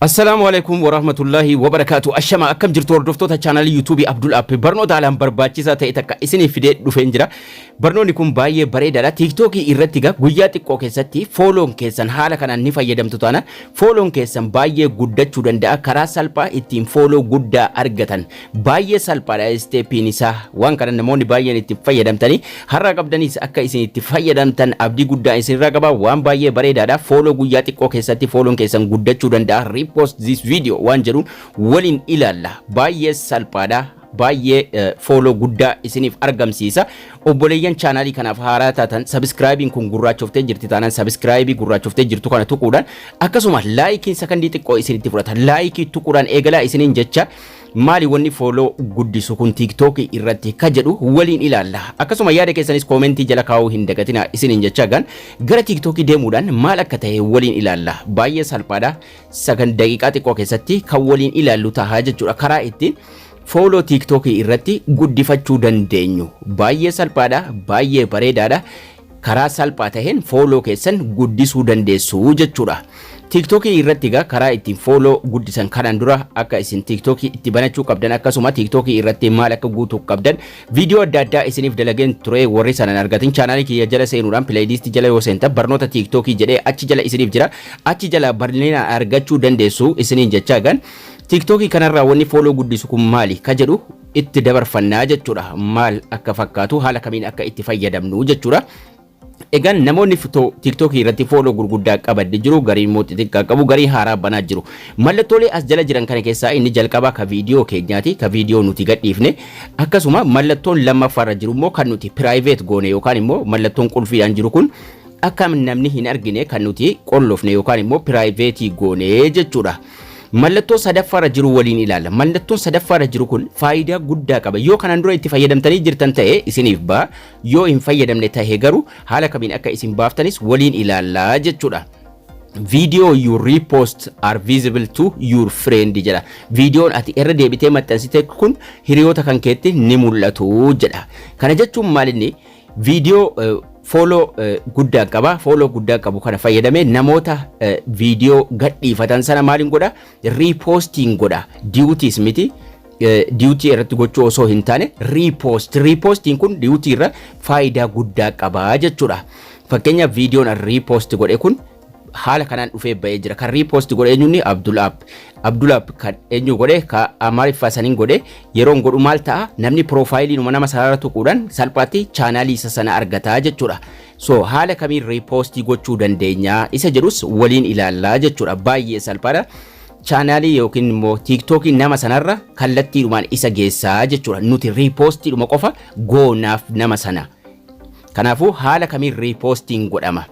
Assalaamu Aleeykum Warahmatullaahi Wabarakaatu Ashama akkam jirtu hordoftoota chaanalii yuutuubii Abdul App barnoota haalaan barbaachisaa ta'e takka isiniif fidee dhufeen jira barnoonni kun baay'ee bareedaadha tiiktookii irratti egaa guyyaa xiqqoo keessatti fooloon keessan haala kanaan ni fayyadamtu taanaan fooloon keessan baay'ee guddachuu danda'a karaa salphaa ittiin fooloo guddaa argatan Baay'ee salphaadha isteepiin isaa waan kana namoonni baay'een itti fayyadamtanii har'a qabdanis akka isin itti fayyadamtan abdii guddaa isinirraa qaba waan baay'ee bareedaadha fooloo guyyaa xiqqoo keessatti fooloon keessan guddachuu danda'a repost this video waan jedhuun waliin ilaalla baay'ee salphaadha baay'ee eh, fooloo guddaa isiniif argamsiisa obboleeyyan chaanaalii kanaaf haaraa taatan sabiskiraayibiin kun gurraachoftee jirti taanaan sabiskiraayibii gurraachoftee jirtu kana tuquudhaan akkasuma laayikiin sakandii xiqqoo isinitti fudhata laayikii tuquudhaan eegalaa isiniin jecha Maali wanni follow guddisu kun tiktok irratti ka jedhu waliin ilaalla. Akkasuma yaada keessanis koomentii jala kaa'uu hin dagatina isiniin jechaa gaan gara tiktok deemuudhaan maal akka ta'e waliin ilaalla. Baay'ee salphaadha. Sagan daqiiqaa xiqqoo keessatti kan waliin ilaallu taha jechuudha. Karaa ittiin fooloo tiktok irratti guddifachuu dandeenyu. Baay'ee salphaadha, baay'ee bareedaadha. Karaa salphaa taheen follow keessan guddisuu dandeessu jechuudha. Tiktok irratti egaa karaa ittiin follow guddisan kanaan dura akka isin tiktok itti banachuu qabdan akkasuma tiktok irratti maal akka guutuu qabdan viidiyoo adda addaa isiniif dalageen ture warri sanan argatin chaanaalii kiyya jala seenuudhaan pileeyiliistii jala yoo seentan barnoota tiktok jedhee achi jala isiniif jira achi jala bal'inaan argachuu dandeessu isiniin jechaa egaan tiktok kanarraa wanni follow guddisu kun maali ka jedhu itti dabarfannaa jechuudha. Maal akka fakkaatu haala kamiin akka itti fayyadamnu jechuudha. Egaan namoonni fitoo tiiktookii irratti fooloo gurguddaa qaban ni jiru, gariin immoo xixiqqaa qabu, gariin haaraa banaa jiru. Mallattoolee as jala jiran kana keessaa inni jalqabaa ka viidiyoo keenyaati, ka viidiyoo nuti gadhiifne. Akkasuma mallattoon lammaffaarra jiru immoo kan nuti piraayiveet goone yookaan immoo mallattoon qulfiidhaan jiru kun akka namni hin argine kan nuti qollofne yookaan immoo piraayiveetii goone jechuudha. Mallattoo sadaffaarra jiru waliin ilaalla. Mallattoon sadaffaarra jiru kun faayidaa guddaa qaba. Yoo kanaan dura itti fayyadamtanii jirtan ta'e isiniif ba'a. Yoo hin fayyadamne ta'e garuu haala kamiin akka isin baaftanis waliin ilaalla jechuudha. Video you repost are visible to your friend jedha. Viidiyoon ati irra deebitee maxxansite kun hiriyoota kan keetti ni mul'atu jedha. Kana jechuun maalinni Viidiyoo fooloo guddaa qaba. Fooloo guddaa qabu kana fayyadamee namoota viidiyoo gadhiifatan sana maaliin godha? Riipoostiin godha. Diwutiis miti. Diwutii irratti gochuu osoo hin taane riipoost. Riipoostiin kun diwutii irra faayidaa guddaa qaba jechuudha. Fakkeenyaaf viidiyoon riipoost godhe kun haala kanaan dhufee ba'ee jira. Kan riipoosti godhe eenyuunni Abdul App. Abdul App kan eenyu godhe ka Amaariffaa saniin godhe yeroon godhu maal ta'a namni piroofaayiliinuma nama sanarra tuquudhaan salphaatti chaanaalii isa sana argataa jechuudha. So haala kamiin riipoostii gochuu dandeenya isa jedhus waliin ilaallaa jechuudha. Baay'ee salphaadha. chaanaalii yookiin immoo tiiktookii nama sanarra kallattiidhumaan isa geessaa jechuudha. Nuti riipoostiidhuma qofa goonaaf nama sana. Kanaafuu haala kamiin riipoostiin godhama.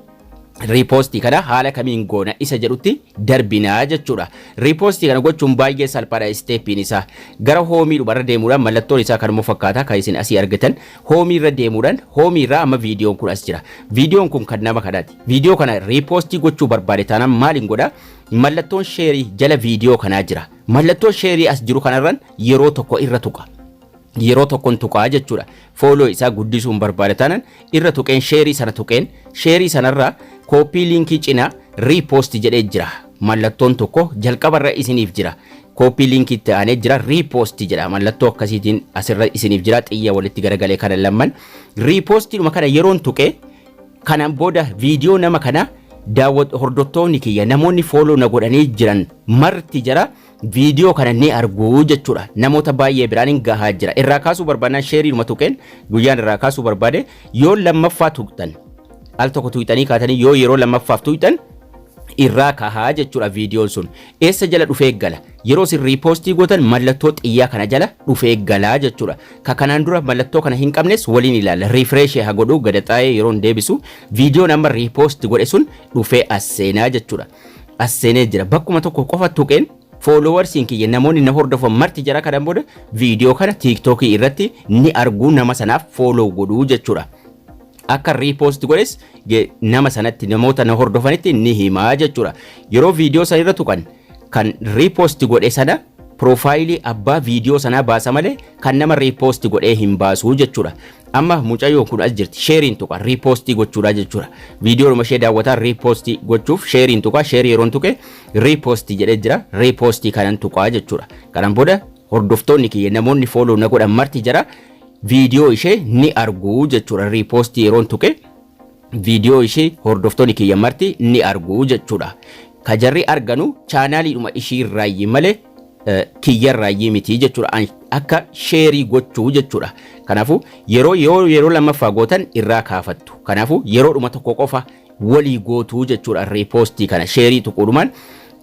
riipoostii kana haala kamiin goona isa jedhutti darbinaa jechuudha. Riipoostii kana gochuun baay'ee salphaadha isteeppiin isaa. Gara hoomii dhumarra deemuudhaan mallattoon isaa kanuma fakkaata kan isin asii argitan. Hoomii irra deemuudhaan hoomii irraa amma viidiyoon kun as jira. Viidiyoon kun kan nama kanaati. Viidiyoo kana riipoostii gochuu barbaade taanaan maaliin godha? Mallattoon sheerii jala viidiyoo kanaa jira. Mallattoo sheerii as jiru kanarran yeroo tokko irra tuqa. yeroo tokkon tuqaa jechuudha. Fooloo isaa guddisuun barbaada tanan irra tuqeen sheerii sana tuqeen sheerii sanarra kooppii liinkii cinaa riipoosti jedhee jira. Mallattoon tokko jalqabarra isiniif jira. Kooppii liinkii itti aanee jira riipoosti jedha. Mallattoo akkasiitiin asirra isiniif jira xiyya walitti garagalee kana lamman. Riipoostiidhuma kana yeroon tuqee kanaan booda viidiyoo nama kana daawwat hordoftoonni kiyya namoonni fooloo na godhanii jiran marti jira viidiyoo kana ni argu jechuudha. Namoota baay'ee biraan hin gahaa jira. Irraa kaasuu barbaadnaan sheeriidhuma tuqeen guyyaan irraa kaasuu barbaade yoo lammaffaa tuqxan al tokko tuqxanii kaatanii yoo yeroo lammaffaaf tuqxan irraa kahaa jechuudha viidiyoon sun. Eessa jala dhufee gala? Yeroo isin riipoostii gootan mallattoo xiyyaa kana jala dhufee galaa jechuudha. Ka kanaan dura mallattoo kana hin qabnes waliin ilaalla. Riifreeshee haa godhu gadaxaa'ee yeroo hin deebisu viidiyoon amma riipoosti godhe sun dhufee as seenaa jechuudha. as seenee jira bakkuma tokko qofa tuqeen foolowarsiin kiyya namoonni na hordofan marti jara kanan booda viidiyoo kana tiiktookii irratti ni arguu nama sanaaf fooloo godhuu jechuudha. Akka riipoost godhes ge- nama sanatti namoota na hordofanitti ni himaa jechuudha. Yeroo viidiyoo sana irra tuqan kan riipoost godhe sana piroofaayilii abbaa viidiyoo sanaa baasa malee kan nama riipoost godhee hin baasuu jechuudha. Amma mucayyoon kun as jirti. Sheeriin tuqa. Riipoostii gochuudha jechuudha. Viidiyoodhuma ishee daawwataa riipoostii gochuuf sheeriin tuqa. Sheerii yeroon tuqe riipoostii jedhee jira. Riipoostii kanan tuqaa jechuudha. Kanan booda hordoftoonni kiyya namoonni fooloo na godhan marti jira. Viidiyoo ishee ni argu jechuudha. Riipoostii yeroon tuqe viidiyoo ishee hordoftoonni kiyya marti ni argu jechuudha. Ka jarri arganu chaanaaliidhuma ishii irraayyi malee kiyya irraayyii miti jechuudha. An- Akka sheerii gochuu jechuudha. Kanaafuu yeroo yoo yeroo lammaffaa gootan irraa kaafattu. Kanaafuu yeroo dhuma tokko qofa walii gootuu jechuudha. Riipoostii kana sheerii tuquudhumaan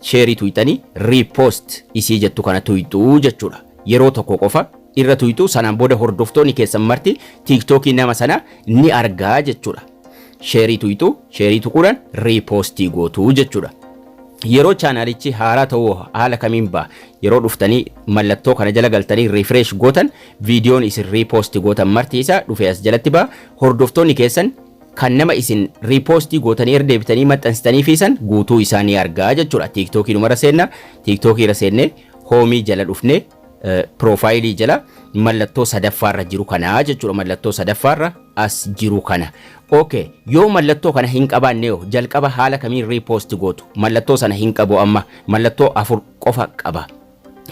sheerii tuyxanii riipoost isii jettu kana tuyxuu jechuudha. Yeroo tokko qofa irra tuyxuu sanaan booda hordoftoonni keessan marti tiiktookii nama sana ni argaa jechuudha. sheerii tuyxu, sheerii tuquudhaan riipoostii gootu jechuudha. Yeroo chaanaalichi haaraa ta'uu haala kamiin ba'a? Yeroo dhuftanii mallattoo kana jala galtanii refresh gootan viidiyoon isin riipoostii gootan marti isaa dhufee as jalatti ba'a. Hordoftoonni keessan kan nama isin riipoostii gootanii irra deebitanii maxxansitanii fi san guutuu isaa ni argaa jechuudha. Tiiktookiidhuma irra seenna. Tiiktookii irra seennee hoomii jala dhufnee Piroofaayilii jala mallattoo sadaffaarra jiru kana jechuudha. Mallattoo sadaffaarra as jiru kana. Ok, yoo mallattoo kana hin qabaanne yoo jalqaba haala kamiin riipoosti gootu? Mallattoo sana hin qabu amma. Mallattoo afur qofa qaba.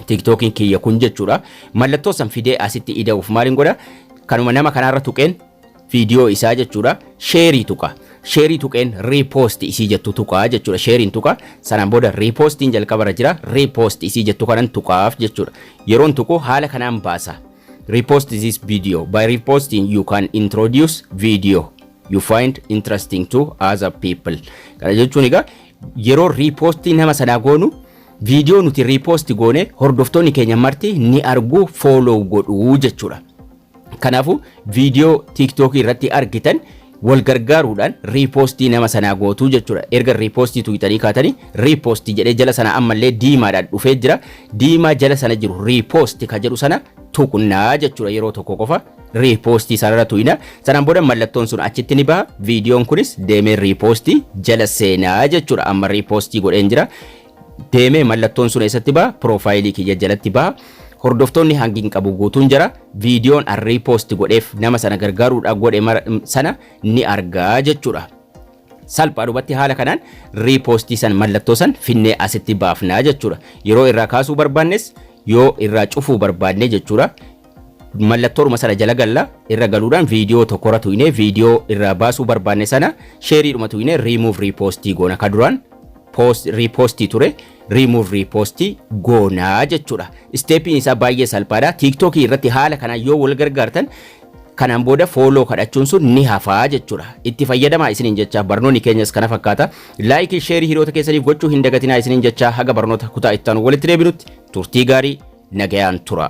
Tiktookiin kiyya kun jechuudha. Mallattoo san fidee asitti ida'uuf maaliin godha? Kanuma nama kanaarra tuqeen viidiyoo isaa jechuudha sheerii tuqa. Sheerii tuqeen repost isii jettu tuqaa jechuudha. Sheeriin tuqa sanaan booda repostiin jalqabarra jira repost isii jettu kanan tuqaaf jechuudha. Yeroon tuqu haala kanaan baasa. Repost this video. By reposting you can introduce video you find interesting to other people. Kana jechuun egaa yeroo repostii nama sanaa goonu viidiyoo nuti repost goone hordoftoonni keenya marti ni argu follow godhu jechuudha. Kanaafuu viidiyoo tiiktookii irratti argitan wal gargaaruudhaan riipoostii nama sanaa gootuu jechuudha. Erga riipoostii tuqxanii kaatanii riipoostii jedhee jala sana ammallee diimaadhaan dhufee jira. Diimaa jala sana jiru riipoosti ka jedhu sana tuqnaa jechuudha yeroo tokko qofa riipoostii sanarra tuqna. Sanaan booda mallattoon sun achitti ni baha. Viidiyoon kunis deemee riipoostii jala seenaa jechuudha. Amma riipoostii godheen jira. deeme mallattoon sun eessatti ba'a piroofaayilii kiyya jalatti ba'a hordoftoonni hangi hin qabu guutuun jira viidiyoon an riipoosti godheef nama sana gargaaruudhaaf godhe mara- sana ni argaa jechuudha. salphaadhumatti haala kanaan riipoostii san mallattoo san finnee asitti baafnaa jechuudha. Yeroo irraa kaasuu barbaannes yoo irraa cufuu barbaanne jechuudha. Mallattooruma sana jala galla, irra galuudhaan viidiyoo tokkorra tuqnee viidiyoo irraa baasuu barbaanne sana sheeriidhuma tuqnee remove repost goona. Ka duraan post repost ture remove repost goona jechuudha. Isteepiin isaa baay'ee salphaadha. Tiiktookii irratti haala kanaan yoo wal gargaartan kanaan booda fooloo kadhachuun sun ni hafaa jechuudha. Itti fayyadamaa isiniin jecha barnoonni keenyas kana fakkaata. Like fi share hiriyoota keessaniif gochuu hin dagatinaa isiniin jechaa haga barnoota kutaa itti aanu walitti deebinutti turtii gaarii nagayaan tura.